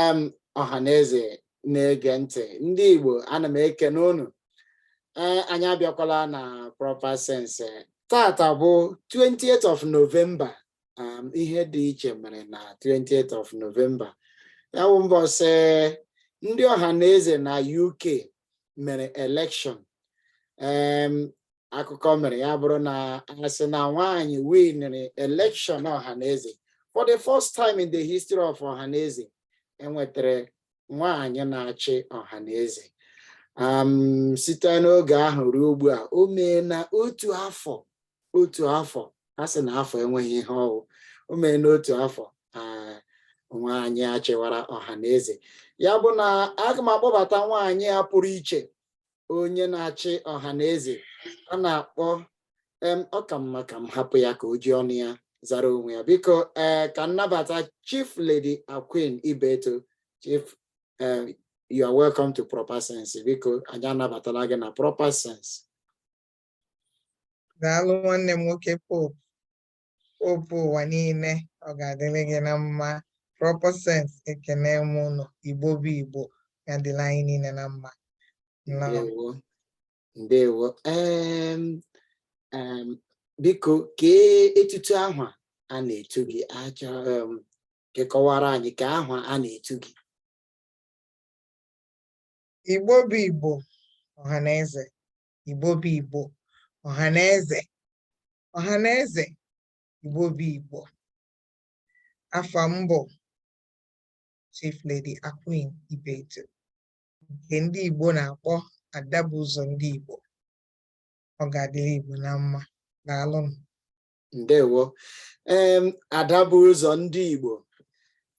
em ọha na eze na-ege ntị ndị Igbo ana m ekene unu ee anyị abịakwala na proper sense taata bụ 28th of November um, ihe dị iche mere na 28th of November ya bụ mbọsị ndị ọha na eze na UK mere elekshọn akụkọ mere ya bụrụ na a sị na nwaanyị winere elekshọn ọhaneze for the first time in the history of ọhaneze e nwetara nwaanyị na-achị ọhaneze site n'oge ahụ ruo ugbu a o meena otu afọ otu afọ a sị na afọ enweghị ihe ọ wụ o meena otu afọ nwaanyị a chịwara ọha na eze ya bụ na aga m akpọbata nwaanyị a pụrụ iche onye na-achị ọha na eze a na-akpọ ọ ka mma ka m hapụ ya ka o ji ọnụ ya zara onwe ya biko ee ka m nabata chief lady Aqueen ibeto chief you are welcome to proper sense biko anyị anabatala gị na proper sense daalụ nwanne m nwoke pope pope ụwa niile ọ ga-adịrị gị na mma proper sense ekene m unu igbo bụ igbo ya dịla anyị niile na mma ndewo ndewo biko kee etutu aha a na-etu gị ka ị kọwara anyị kee aha a na-etu gị igbo bụ igbo ọha na eze Igbo bụ Igbo ọha na eze ọha na eze Igbo bụ Igbo afa m bụ Chief Lady Aqueen Ibeto nke ndị Igbo na-akpọ ada bu ụzọ ndị Igbo ọ ga-adịrị Igbo na mma daalụnụ ndewo ee ada bu ụzọ ndị Igbo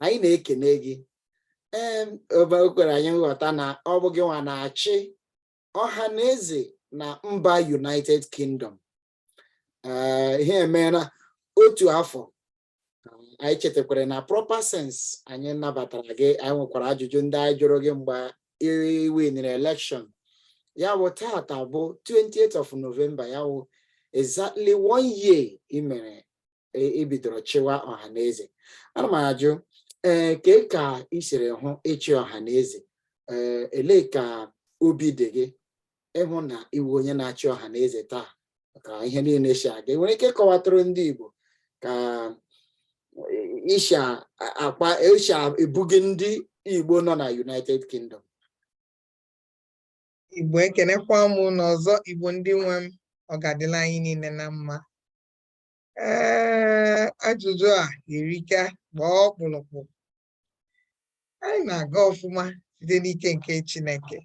anyị na-ekene gị ee o kwere anyị nghọta na ọ bụ gị nwa na-achị ọha na eze na mba United Kingdom eh, ihe emeela otu afọ anyị chetakwara na proper sense anyị nabatara gị anyị nwekwara ajụjụ ndị anyị jụrụ gị mgbe i winere elekshọn ya bụ taata bụ 28th of November ya bụ exactly one year i mere i bidoro ee chịwa ọha na eze ana m ajụ ee eh, kee ka ị siri hụ ịchị ọha na eze ee eh, elee ka obi dị gị ịhụ na ị wụ onye na-achị ọha na eze taa ka ihe niile si aga i nwere ike ịkọwatụrụ ndị Igbo ka i shi akpa i shi ebughị ndị Igbo nọ na United Kingdom Igbo ekenekwa m unu ọzọ Igbo ndị nwe m ọ ga-adịla anyị niile na mma ee ajụjụ a erika gbaa ọkpụrụkpụ anyị na-aga ọfụma site n'ike nke Chineke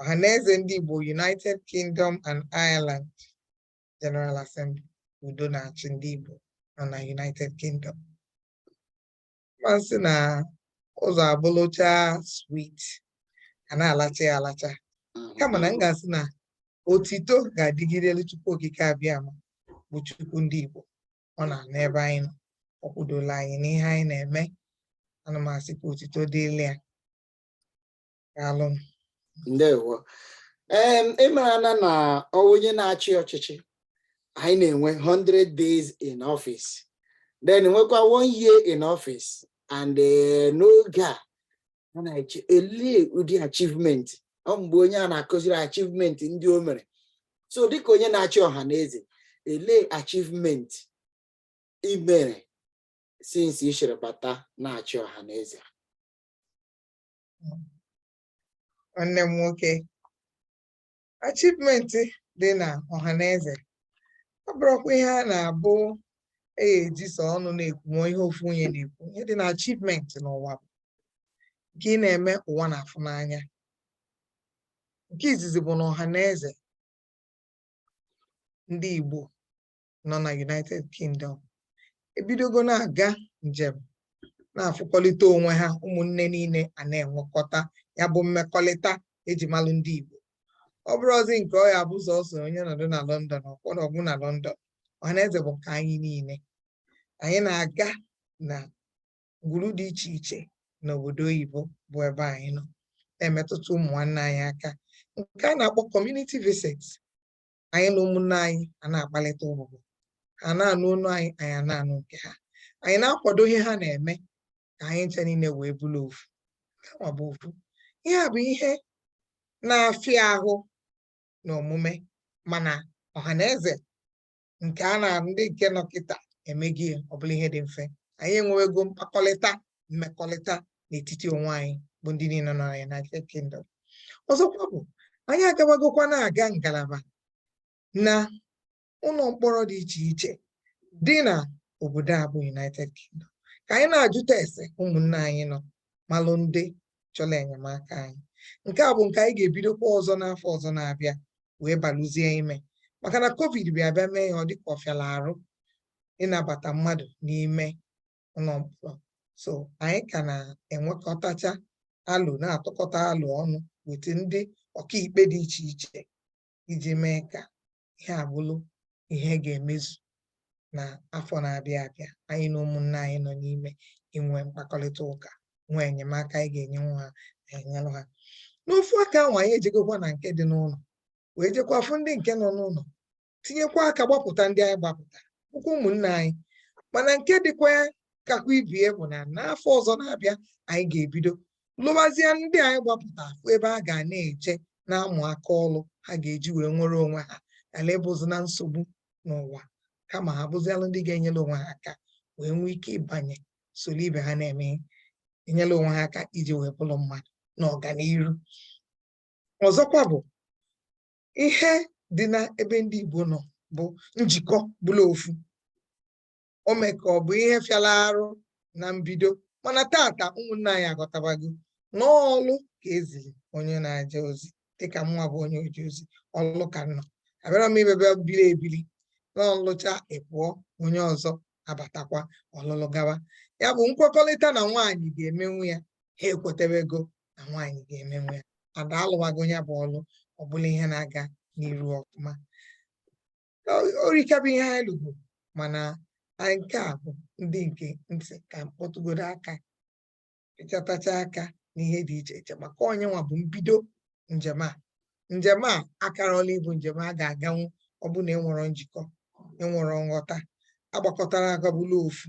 ọhaneze ndị Igbo United Kingdom and Ireland General Assembly udo na-achị ndị Igbo nọ na United Kingdom masị na ụzọ abụlụcha sweet a na-alacha ya alacha kama na m ga-asị na otito ga-adịgidelu Chukwu Okike abịama bụ Chukwu ndị Igbo ọ na-anọ ebe anyị nọ ọ kwudola anyị n'ihe anyị na-eme ana m asị ka otito dịlị ya daalụ ndewo ee ị mara na na onye na-achị ọchịchị anyị na-enwe 100 days in office then nwekwa one year in office and eh, n'oge a a na-eche elee ụdị achievement ọ mgbe onye a na-akụziri achievement ndị o mere so dịka onye na-achị Ọhanaeze elee achievement i mere since i jiri bata na-achị Ọhanaeze nwanne m nwoke achievement dị na Ọhanaeze abụrọkwa ihe a na-abụ eji sọ ọnụ na-ekwu ma ihe ofu onye na-ekwu ihe dị na achievement n'ụwa bụ nke ị na-eme ụwa na-afụ n'anya nke izizi bụ na Ọhanaeze ndị Igbo nọ na United Kingdom ebidogo na-aga njem na-afụkọlịta onwe ha ụmụnne niile a na-enwekọta ya bụ mmekọlịta eji malụ ndị Igbo ọ bụrọzi nke ọ ya-abụ sọsọ onye nọdụ na London o kwuo na ọ gwụ na London ọhanaeze bụ nke anyị niile anyị na-aga na ngwuru dị iche iche n'obodo oyibo bụ ebe anyị nọ na-emetụta ụmụ nwanne anyị aka nke a na-akpọ community visit anyị na ụmụnne anyị a na-akpalịta ụbụbọ ha na-anụ onu anyị anyị a na-anụ nke ha anyị na-akwado ihe ha na-eme ka anyị ncha niile wee bụrụ ofu ọ bụ ofu ihe a bụ ihe na-afịa ahụ na omume mana Ọhanaeze nke a na ndị nke nọ kịta emego ya ọ bụlụ ihe dị mfe anyị enwewego mkpakọlịta mmekọrịta n'etiti onwe anyị bụ ndị niile nọ na United Kingdom ọzọkwa bụ anyị agabagokwa na-aga ngalaba na ụlọ mkpọrọ dị iche iche dị na obodo a bụ United Kingdom ka anyị na-ajụta ese ụmụnne anyị nọ malụ ndị chọrọ enyemaka anyị nke a bụ nke anyị ga-ebidokwa ọzọ n'afọ ọzọ na-abịa wee balụzie ime maka na covid bịa bịa mee ya ọ dịka ọ fịalụ arụ ịnabata mmadụ n'ime ụlọ mkpọrọ so anyị ka na-enwekọtacha alo na-atụkọta alo ọnụ wete ndị ọkaikpe dị iche iche iji mee ka ihe a bụlụ ihe ga-emezu na afọ na-abịa abịa anyị na ụmụnne anyị nọ n'ime inwe mkpakọrịta ụka nwee enyemaka anyị ga-enyenwu ha enyelụ ha n'ofu aka ahụ anyị ejegokwa na nke dị n'ụlọ wee jekwa fụ ndị nke nọ n'ụlọ tinyekwa aka gbapụta ndị anyị gbapụta bụkwa ụmụnne anyị mana nke dịkwa kakwa ibie bụ na n'afọ ọzọ na-abịa anyị ga-ebido lụbazie ndị anyị gbapụta afụ ebe ha ga na-eje na-amụ aka ọlụ ha ga-eji wee nwere onwe ha ghala ịbụzi na nsogbu n'ụwa kama ha bụzialụ ndị ga-enyere onwe ha aka wee nwee ike ịbanye soro ibe ha na-eme enyere onwe ha aka iji wee bụrụ mmadụ na ọganihu ọzọkwa bụ ihe dị na ebe ndị Igbo nọ bụ njikọ bụlụ ofu o mee ka ọ bụ ihe fịara arụ na mbido mana tata ụmụnne anyị aghọtabago na ọlụ ka e ziri onye na-eje ozi dịka mụnwa bụ onye oje ozi ọlụ ka nọ abịara m imebe biri ebiri n'ọlụcha ị pụọ onye ọzọ abatakwa ọ lụlụ gawa ya bụ nkwekọrịta na nwaanyị ga-emenwu ya ha ekwetebego na nwaanyị ga-emenwu ya ada alụwago ya bụ ọlụ ọ bụlụ ihe na-aga n'iru ọfụma o rika bụ ihe anyị lụgo mana nke a bụ ndị nke m sị ka m kpọtụgodo aka ịchọtacha aka n'ihe dị iche iche maka onye nwa bụ mbido njem a njem a akarọla ịbụ njem a ga-aganwu ọ bụ na enwerọ njikọ enwerọ nghọta agbakọtarọ aka bụlụ ofu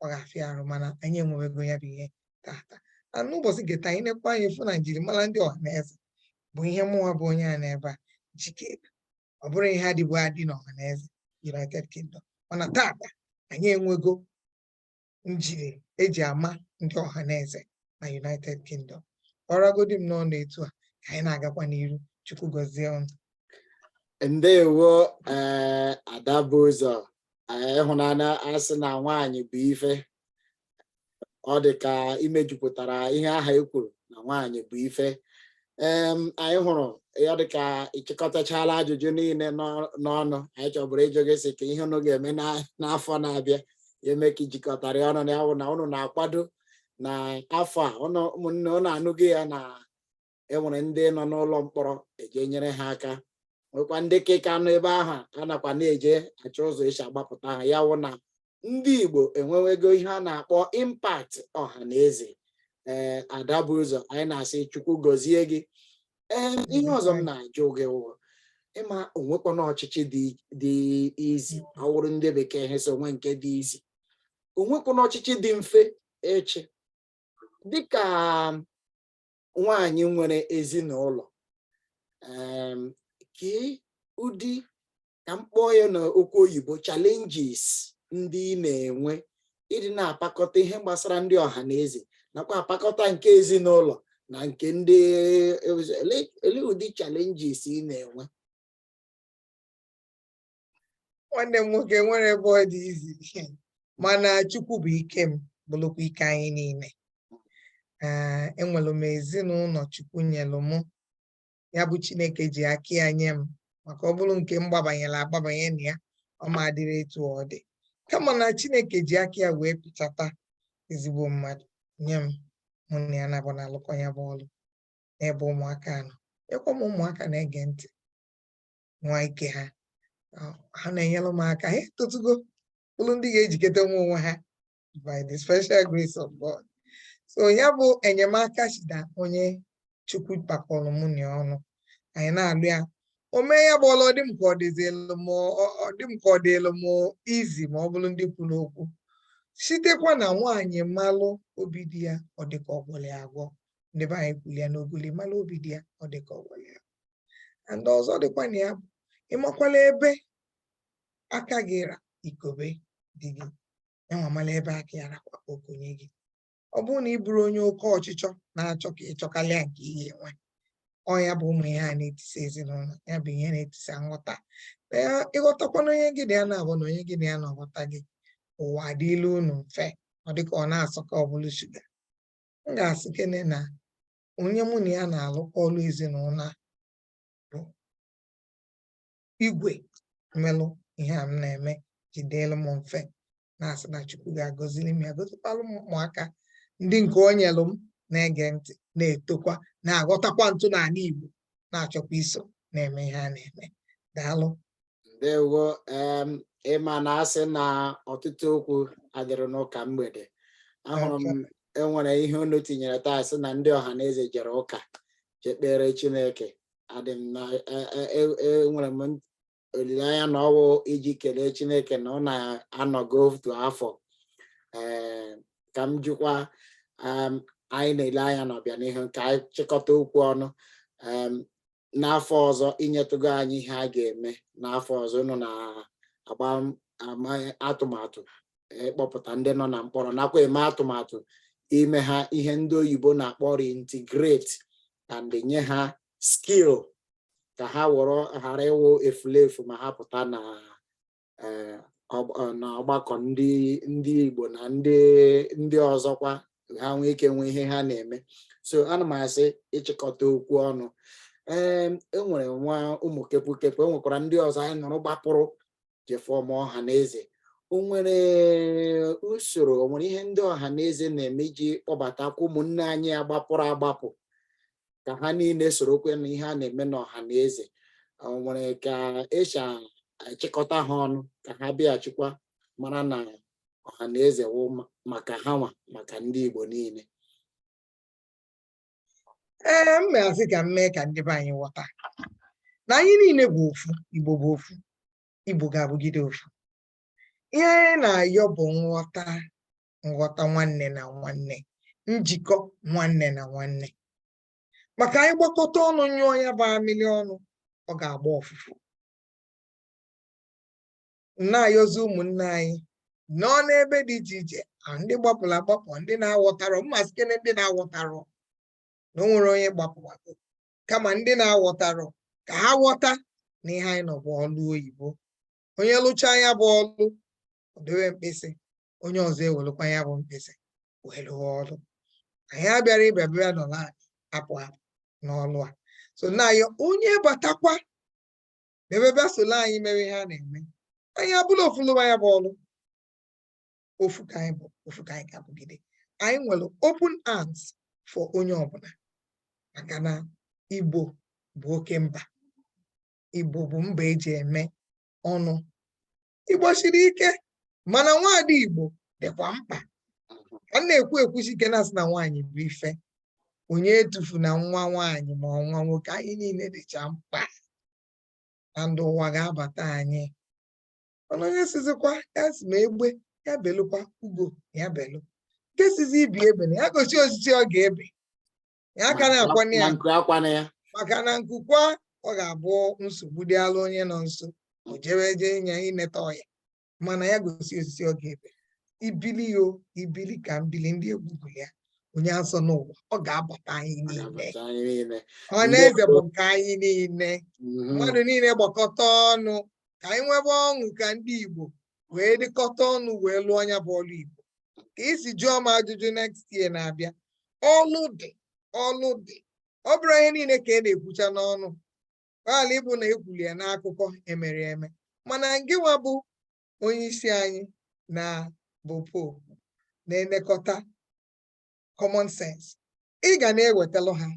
ọ ga-afịa arụ mana anyị enwewego ya bụ ihe tata na n'ụbọchị nke taa anyị nekwa anyị fụ na njirimara ndị ọha na eze bụ ihe mụnwa bụ onye a n'ebe a jike ọ bụrọ ihe dịbu adị na ọha na eze United Kingdom mana tata anyị enwego njiri e ji ama ndị ọha na eze na United Kingdom ọ ragodi m n'ọnụ etu a ka anyị na-agakwa n'iru Chukwu gọzie ụnụ ndewo eh, ada bu ụzọ eh, ị hụ na a na-asị na nwaanyị bụ ife ọ dị ka i mejupụtara ihe aha e kwuru na nwaanyị bụ ife anyị hụrụ ya dịka ị chịkọtachala ajụjụ niile n'ọnụ anyị chọbụrụ ịjụ gị sị ka ihe unu ga-eme n'afọ na-abịa eme ka i jikọtara ọnụ ya wụ na ụnụ na-akwado na afọ a ụmụnne ụnụ anụghị ya na enwere ndị nọ n'ụlọ mkpọrọ e je nyere ha aka nwekwa ndị ke ka nọ ebe ahụ a nakwa na-eje achọ ụzọ e si agbapụta ha ya wụ na ndị Igbo enwewego ihe a na-akpọ impact ọha na eze ee eh, ada bu ụzọ anyị na-asị Chukwu gọzie gị ee eh, ihe ọzọ m na-ajụ gị wụ ị ma o nwekwana ọchịchị dị easy ọ wụrụ ndị bekee ha sị o nwe nke dị easy o nwekwana ọchịchị dị mfe ịchị dịka nwaanyị nwere ezinụlọ kee ụdị ka m kpọọ ya na okwu oyibo challenges ndị ị na-enwe ịdị na-apakọta ihe gbasara ndị ọha na eze nakwa apakọta nke ezinụlọ na nke ndị ele ụdị challenges ị na-enwe nwanne m nwoke enwerọ ebe ọ dị easy mana chukwu bụ ike m bụlụkwa ike anyị niile enwelu m ezinụlọ chukwu nyelụ m ya bụ chineke ji aka ya nye m maka ọ bụrụ nke m gbabanyelụ agbabanye na ya ọ ma-adịrị etu ọ dị kama na chineke ji aka ya wee pịchata ezigbo mmadụ nye m mụ na ya na-abụ na-alụkọ ya bụ ọlụ n'ebe ụmụaka nọ enwekwa m ụmụaka na-ege ntị nwaa ike ha ha na-enyere m aka ha etotugo bụrụ ndị ga-ejikọtanwu onwe ha by the special grace of God so ya bụ enyemaka chi na onye chukwu kpakọlụ mụ na ya ọnụ anyị na-alụ ya o mee ya bụ ọlụ ọ dị m ka ọ dịzielu m ọ dị m ka ọ dịlụ m easy ma ọ bụrụ ndị kwuru okwu sitekwa na nwaanyị malụ obi di ya ọ dị ka ọ gwọlụ ya agwọ ndị be anyị kwuru ya n'ogoli malụ obi di ya ọ dị ka ọ gwọlụ ya agwọ and ọzọ dịkwa na ya bụ ịmakwalụ ebe aka gị ra i kobe di gị ya nwa mala ebe aka ya rakwa o konye gị ọ bụrụ na ị bụrụ onye oke ọchịchọ na-achọ ka ị chọkalịa nke ihe e nwe ọ ya bụ ụmụ ihe a na-etisa ezinụlọ ya bụ ihe na-etisa nghọta ị ghọtakwana onye gị na ya na-abụ na onye gị na ya na-aghọta gị ụwa adịlụ unu mfe ọ dịka ọ na-asọ ka ọ bụrụ sugar m ga-asị kene na onye mụ na ya na-alụkọ ọlụ ezinụlọ bụ igwe melụ ihe a m na-eme ji dịlụ m mfe na-asị na Chukwu ga-agọzili m ya gọzikwalụ m ụmụaka ndị nke o nyelụ m na-ege ntị na-etokwa na-aghọtakwa ntọnala Igbo na-achọkwa iso na-eme ihe a na-eme daalụ ndewo ị ma na a sị na ọtụtụ okwu adịghị n'ụka mgbede ahụrụ m e nwere ihe unu tinyere taa sị na ndị ọha na eze jere ụka jekpere Chineke adị m na enwere m olileanya na ọ wụ iji kelee Chineke na unu anọgo otu afọ ee ka m jụkwa anyị na-ele anya n'ọbịanihu ka anyị chịkọta okwu ọnụ n'afọ ọzọ i nyetụgo anyị ihe a ga-eme n'afọ ọzọ unu na-agba atụmatụ ịkpọpụta ndị nọ na mkpọrọ nakwa eme atụmatụ ime ha ihe ndị oyibo na-akpọ reintegrate and nye ha skill ka ha wụrụ ghara ịwụ efulefu ma ha pụta na eh, ọgbakọ ndị ndị Igbo na ndị ndị ọzọkwa ha nwee ike nwee ihe ha na-eme so ana m asị ịchịkọta okwu ọnụ ee enwere nwa ụmụ kepụkepụ enwekwara ndị ọzọ anyị nụrụ gbapụrụ je form ọha na eze o nwere usoro o nwere ihe ndị ọha na eze na-eme iji kpọbatakwa ụmụnne anyị a gbapụrụ agbapụ ka ha niile sorokwa na ihe a na-eme n'ọha na eze o nwere ka esi achịkọta ha ọnụ ka ha bịaghachikwa mara na ọha na eze wụ maka ha nwa maka ndị Igbo niile ee m ma-asị ka m mee ka ndị be anyị ghọta na anyị niile bụ ofu Igbo bụ ofu Igbo ga-abụgide ofu ihe anyị na-ayọ bụ nghọta nghọta nwanne na nwanne njikọ nwanne na nwanne maka anyị gbakọta ọnụ nyụọ ya bụ amịlị ọnụ ọ ga-agba ọfụfụ na-ayọzi ụmụnne anyị nọ n'ebe dị iche iche ndị gbapụrụ agbapụ ndị na-aghọtarọ m ma-asịkene ndị na-aghọtarọ na o nwere onye gbapụ agbapụ kama ndị na-aghọtarọ ka ha ghọta na ihe anyị nọ bụ ọlụ oyibo onye lụcha ya bụ ọlụ o dewe mkpịsị onye ọzọ ewelụkwa ya bụ mkpịsị wee lụwa ọlụ anyị abịarọ ịbịa bịa nọ na-apụ apụ n'ọlụ a so na-ayọ onye batakwa ebe bịa solo anyị mere ihe a na-eme anyị abụla ofu lụwa ya bụ ọlụ ofu ka anyị bụ ofu ka anyị ga-abụgide anyị nwere open arms for onye ọbụla maka na Igbo bụ oke mba Igbo bụ mba eji eme ọnụ Igbo siri ike mana nwaada Igbo dịkwa mkpa a na-ekwu ekwusi ike na-asị na nwaanyị bụ ife onye etufuna nwa nwaanyị ma nwa nwoke anyị niile dịcha mkpa na ndụ ụwa ga-abata anyị mana onye sịzịkwa asị m egbe ya belụkwa ugo ya belụ nke sịzị ibe ebena ya gosi osisi ọ ga-ebe ya aka na-akwana ya maka na nku kwaa ọ ga-abụ nsogbu dị ala onye nọ nso o jewe eje ịnya ineta ọya mana ya gosi osisi ọ ga-ebe ibili o ibili ka m bili ndị egwu gụ ya onye azọna ụwa ọ ga-abata anyị niile ọhaneze bụ nke anyị niile mm-hmm. mmadụ niile gbakọta ọnụ ka anyị nwebe ọṅụ ka ndị Igbo wee dịkọta ọnụ wee lụọ nya bụ ọlụ Igbo ka i si jụọ m ajụjụ next year na-abịa ọlụ dị ọlụ dị ọ bụrọ ihe niile ka a na-ekwucha n'ọnụ ghala ịbụ na ekwuli ya n'akụkọ emere eme mana ngịnwa bụ onye isi anyị na bụ popu na-elekọta common sense ị ga na-ewetalụ ha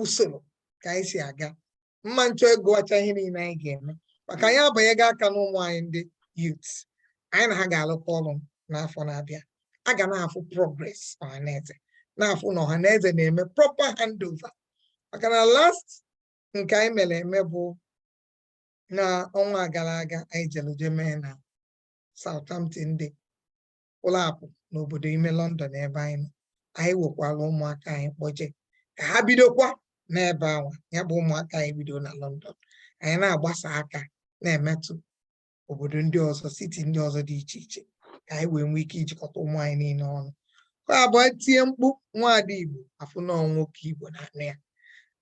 usoro ka anyị si aga mma nchọ ịgụwacha ihe niile anyị ga-eme maka anyị abanyego aka n'ụmụ anyị ndị youth anyị na ha ga-alụkọ ọlụ n'afọ na-abịa a ga na-afụ progress ọhaneze na-afụ na ọhaneze na-eme proper handover maka na last nke anyị mere eme bụ na ọnwa gara aga anyị jelu je mee na Southampton dị pụlụ apụ n'obodo ime London ebe anyị nọ anyị wekwaa ụmụaka anyị kpọje ka ha bidokwa n'ebe anwa ya bụ ụmụaka anyị bido na London anyị na-agbasa aka na-emetụ obodo ndị ọzọ city ndị ọzọ dị iche iche ka anyị wee nwee ike ijikọta ụmụ anyị niile ọnụ ka ọ bụọ e tie mkpu nwaada Igbo a fụ na nwoke Igbo na-anụ ya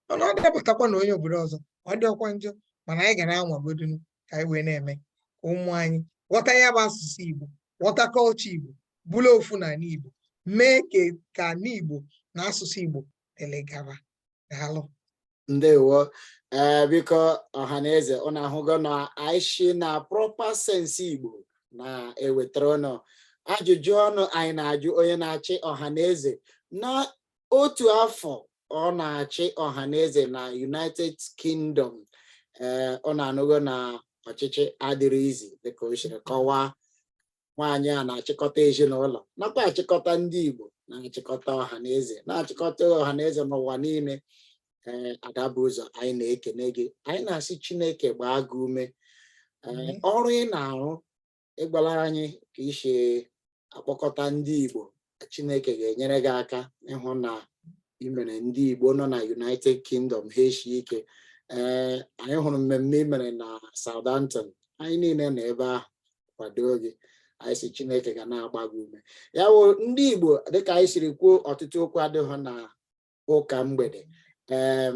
mana ọ dapụtakwa na onye obodo ọzọ ọ dịọkwa njọ mana anyị ga na-anwagodu ka anyị wee na-eme ka ụmụ anyị ghọta ya bụ asụsụ Igbo ghọta culture Igbo bụlụ ofu na ala Igbo mee ka ala Igbo na asụsụ Igbo dịlị gaba daalụ ndewo ee eh, biko ọha na eze ụnụ ahụgo na anyị shi na proper sense Igbo na-ewetara ụnụ ajụjụ ọnụ anyị na-ajụ onye na-achị ọha na eze na otu afọ ọ na-achị ọha na eze na united kingdom ee ụnụ anụgo na ọchịchị adịrị easy dịka o siri kọwaa nwaanyị a na-achịkọta ezinụlọ nakwa achịkọta ndị igbo na-achịkọta ọha na eze na-achịkọta ọha na eze n'ụwa niile ee Ada bu ụzọ anyị na-ekene gị anyị na-asị chineke gbaa gị ume ee ọrụ ị na-arụ ị gwala anyị ka i si akpọkọta ndị Igbo Chineke ga-enyere gị aka ịhụ na i mere ndị Igbo nọ na United Kingdom ha eshie ike ee eh, anyị hụrụ mmemme i mere na Southampton anyị niile nọ ebe ahụ kwadoo gị anyị sị Chineke ga na-agba gị ume ya bụ ndị Igbo dịka anyị siri kwuo ọtụtụ okwu adịghị na ụka mgbede ee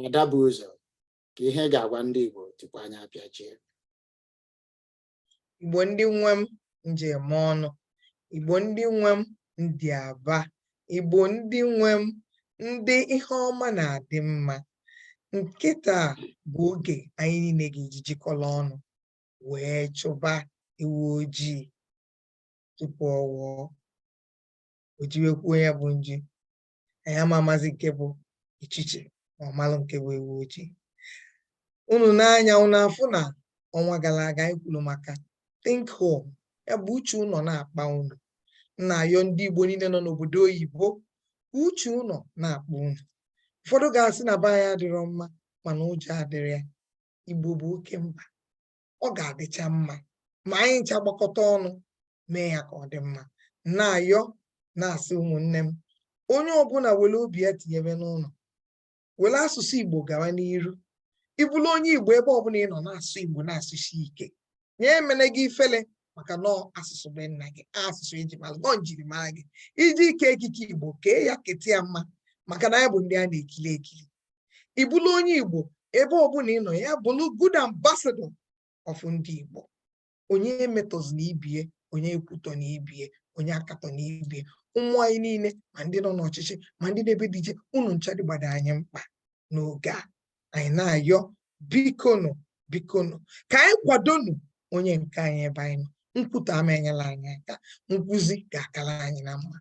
Ada bu ụzọ kee ihe ị ga-agwa ndị Igbo tupu anyị apịachie Igbo ndị nwe m nji eme ọnụ Igbo ndị nwe m ndị aba Igbo ndị nwe m ndị ihe ọma na-adị mma kịta bụ oge anyị niile ga-eji jikọrọ ọnụ wee chụba ewu ojii tupu ọ wụọ o jiwekwuo ya bụ nji anyị ama amazi nke bụ uchichi ma ọ malụ nke bụ ewu ojii unu nee anya unu afụ na ọnwa gara aga anyị kwuru maka think home ya bụ uche ụnọ na-akpa unu na-ayọ ndị Igbo niile nọ n'obodo oyibo uche ụlọ na-akpa unu ụfọdụ ga-asị na be anyị adịrọ mma mana ụjọ adịrọ ya Igbo bụ oke mba ọ ga-adịcha mma ma anyị ncha gbakọta ọnụ mee ya ka ọ dị mma na-ayọ na-asị ụmụnne m onye ọbụla were obi ya tinyebe n'ụlọ were asụsụ Igbo gawa n'iru ị bụrụ onye Igbo ebe ọbụla ị nọ na-asụ Igbo na-asụsi ike nya emene gị ifele maka na ọ asụsụ be nna gị asụsụ e ji mara na ọ njirimara gị iji ike ekike Igbo kee ya keta ya mma maka na anyị bụ ndị a na-ekiri ekiri ị bụrụ onye Igbo ebe ọbụla ị nọ ya bụrụ good ambassador of ndị Igbo onye emetọzina ibie onye ekwutọna ibie onye akatọna ibie ụmụ anyị niile ma ndị nọ n'ọchịchị ma ndị nọ ebe dị iche unu ncha dịgbado anyị mkpa n'oge a anyị na-ayọ bikonu bikonu ka anyị kwadonu onye nke anyị ebe anyị nọ nkwutọ ama enyela anyị aka nkwuzi ga-akala anyị na mma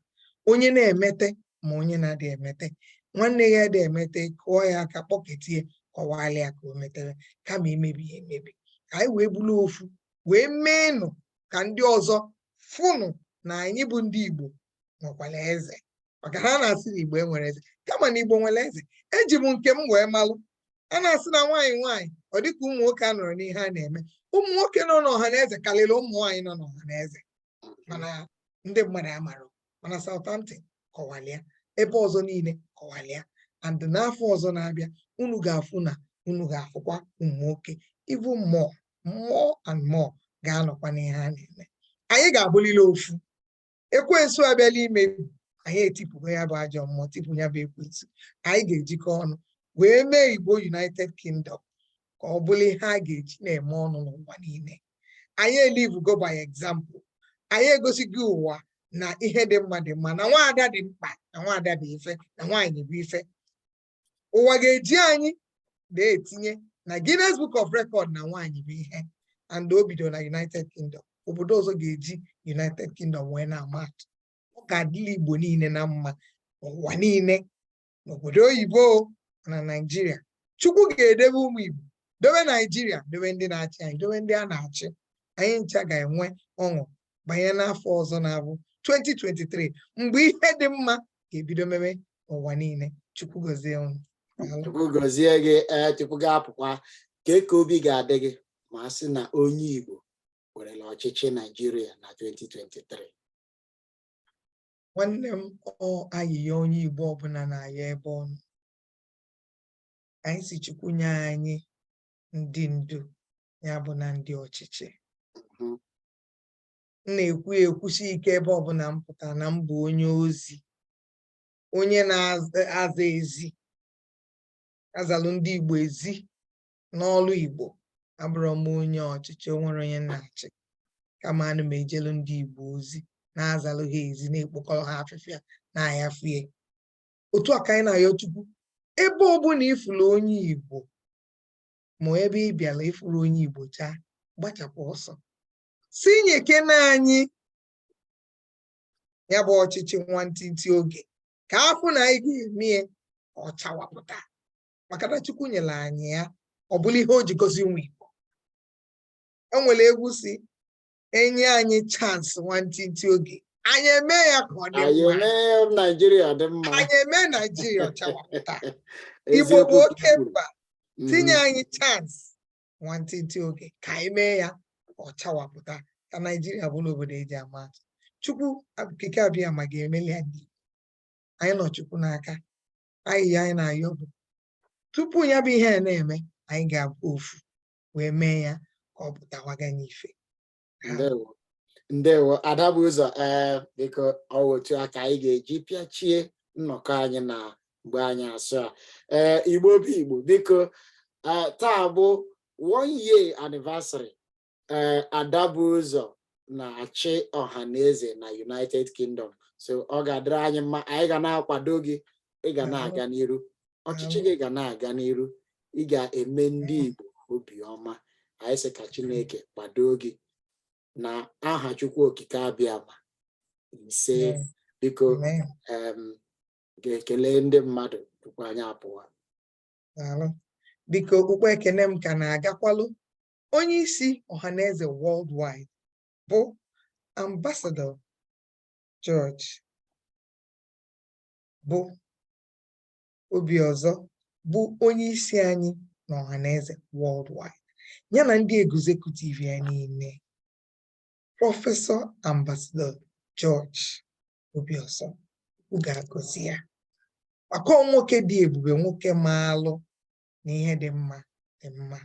onye na-emete ma onye na-adị emete nwanne ya dị emete kụọ ya aka kpọketie kọwalị ya ka o metere kama imebi ya emebi ka anyị wee bụrụ ofu wee meenụ ka ndị ọzọ fụnụ na anyị bụ ndị Igbo nwekwara eze maka ha na-asị na Igbo enwerọ eze kama na Igbo nwere eze eji m nke m wee malụ a na-asị na nwaanyị nwaanyị ọ dịka ụmụ nwoke anọrọ n'ihe a na-eme ụmụ nwoke nọ n'ọhanaeze karịrị ụmụ nwaanyị nọ n'ọhanaeze mana ndị mmadụ amarọ mana Southampton kọwalịa ebe ọzọ niile kọwalịa and n'afọ ọzọ na-abịa unu ga-afụ na unu ga-afụkwa ụmụ nwoke even more more and more ga-anọkwa n'ihe a na-eme anyị ga-abụlịlị ofu ekwensu abịala imebi anyị etipụgo ya bụ ajọ mmụọ tipụ ya bụ ekwensu anyị ga-ejikọ ọnụ wee mee igbo united kingdom ka ọ bụrụ ihe a ga-eji na-eme ọnụ n'ụwa niile anyị elivugo by example anyị egosigo ụwa na ihe dị mma dị mma na nwaada dị mkpa na nwaada dị ife na nwaanyị bụ ife ụwa ga-eji anyị na-etinye na Guinness Book of Record na nwaanyị bụ ihe and o bido na United Kingdom obodo ọzọ ga-eji United Kingdom wee na-ama atụ ọ ga-adịlị Igbo niile na mma n'ụwa niile n'obodo oyibo na Naịjirịa Chukwu ga-edebe ụmụ Igbo dobe Naịjirịa dobe ndị na-achị anyị dobe ndị a na-achị anyị ncha ga-enwe ọṅụ banye n'afọ ọzọ na-abụ 2023 mgbe ihe dị mma ga-ebido meme n'ụwa niile chukwu gọzie unu chukwu gọzie gị ee tupu gị apụkwa kee ka obi ga-adị gị ma a sị na onye igbo werela ọchịchị naijiria na 2023 nwanne m ọ ayịyọ onye igbo ọbụla na-ayọ ebe ọ nọ anyị sị chukwu nye anyị ndị ndu ya bụ na ndị ọchịchị mm-hmm. m na-ekwu ya ekwusi ike ebe ọbụla m pụtara na m bụ onye ozi onye na-aza ezi azalụ ndị Igbo ezi n'ọlụ Igbo abụrọ m onye ọchịchị o nwere onye na-achị kama ana m ejelu ndị Igbo ozi na-azalụ ha ezi na-ekpokọrọ ha afịfịa na-ayafie otu a ka anyị na-ayọ Chukwu ebe ọbụla ị fụlụ onye Igbo ma ebe ị bịara ị fụrọ onye Igbo chaa gbachapụ ọsọ sị nyekene anyị ya bụ ọchịchị nwantịntị oge ka a fụ na anyị ga-eme ya ọ chawapụta maka na Chukwu nyere anyị ya ọ bụlụ ihe o ji gọzie ụmụ Igbo enwere egwu si enye anyị chance nwantịntị oge anyị eme ya ka ọ dị mma Naijiria dị mma anyị eme Naijiria ọ chawapụta Igbo bụ oke mba mm-hmm. tinye anyị chance nwantịntị oge ka anyị mee ya ọ chawapụta ka Naijiria bụrụ obodo e ji ama atụ Chukwu okike abịama ga-emeli anyị anyị nọ Chukwu n'aka ayịyọ anyị na-ayọ bụ tupu ya bụ ihe a na-eme anyị ga-abụ ofu wee mee ya ka ọ pụtawaga n'ife ndewo ndewo ada bu ụzọ ee biko ọ wụ otu a ka anyị ga-eji pịachie nnọkọ anyị na mgbe anyasị a ee igbo bụ igbo dịka taa bụ one year anniversary ee ada bu ụzọ na-achị ọhaneze na united kingdom so ọ ga-adịrị anyị mma anyị ga na-akwado gị ị ga na-aga n'iru ọchịchị gị ga na-aga n'iru ị ga-eme ndị Igbo obiọma anyị sị ka Chineke kwado gị n'aha Chukwu Okike Abịama isee biko ga-ekele ndị mmadụ tupu anyị apụwa biko okpukpe ekene m ka na-agakwalụ onye isi ọhaneze worldwide bụ Ambassador George bụ Obiọzọ bụ onye isi anyị na ọhaneze worldwide ya na ndị executive ya niile prọfesọ ambasadọ George Obiọzọ Chukwu ga-agọzi ya maka nwoke dị ebube nwoke maalụ na ihe dị mma dị mma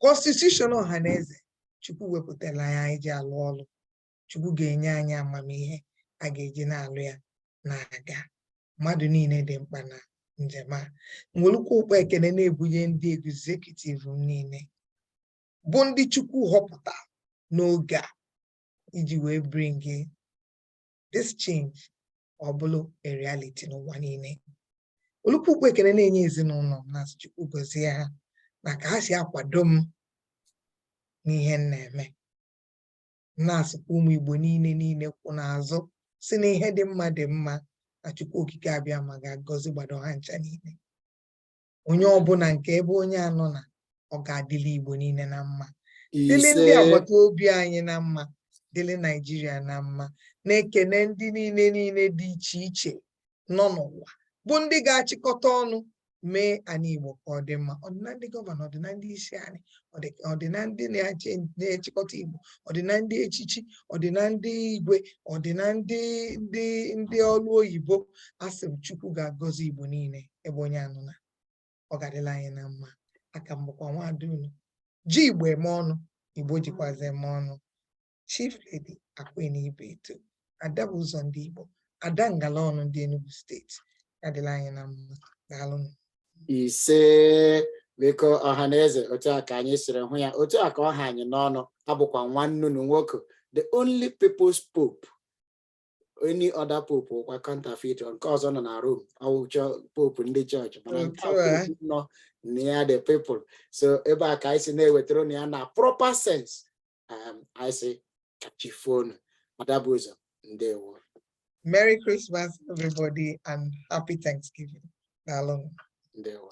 constitution ọhaneze Chukwu wepụtara ya anyị ji alụ ọlụ chukwu ga-enye anyị amamihe a ga-eji na-alụ ya na-aga mmadụ niile dị mkpa na njem a nwelụkwa ụkpọ ekene na-ebunye ndị executive m niile bụ ndị chukwu họpụta n'oge a iji wee bring this change ọ bụrụ a reality n'ụwa niile welukwu ụkpọ ekene na-enye ezinụnọ m na-asị chukwu gozie ha na ka ha si akwado m n'ihe m na-eme na-asịkwa ụmụ Igbo niile niile kwụ n'azụ sị na ihe dị mma dị mma na Chukwu Okike Abịama ga-agọzigbado ha ncha niile onye ọbụna nke ebe onye anọna ọ ga-adịlị Igbo niile na mma dịlị ndị agbata obi anyị na mma dịlị Naijiria na mma na-ekene ndị niile niile dị iche iche nọ n'ụwa bụ ndị ga-achịkọta ọnụ mee anị Igbo ka ọ dị mma ọ dị na ndị gọvanọ ọ dị na ndị isi anị ọ dị na ndị na-achịkọta Igbo ọ dị na ndị echichi ọ dị na ndị igwe ọ dị na ndị ndị ndị ọlụ oyibo asị m Chukwu ga-agọzi Igbo niile ebe onye anọna ọ ga-adịlị anyị na mma aka m bụkwa nwaada unu ji Igbo eme ọnụ Igbo jikwazi eme ọnụ Chief Lady Aqueen Ibeto, Ada bụ ụzọ ndị Igbo, Ada ngala ọnụ ndị Enugu steeti, ya dịlị anyị na mma, daalụ. Ise biko ọha na eze otu a ka anyị siri hụ ya otu a ka ọ ha anyị n'ọnụ abụkwa m nwanne unu nwoke the only people's pope any other pope wụkwa counterfeit nke ọzọ nọ na Rome ọ wụ pope ndị chọọchị mana nke nọ near the people so ebe a ka anyị si na-ewetara unu ya na proper sense I say ka chi foo nụ Ada bụ ụzọ ndewo Merry Christmas everybody and happy Thanksgiving. Daalụ. Ndewo.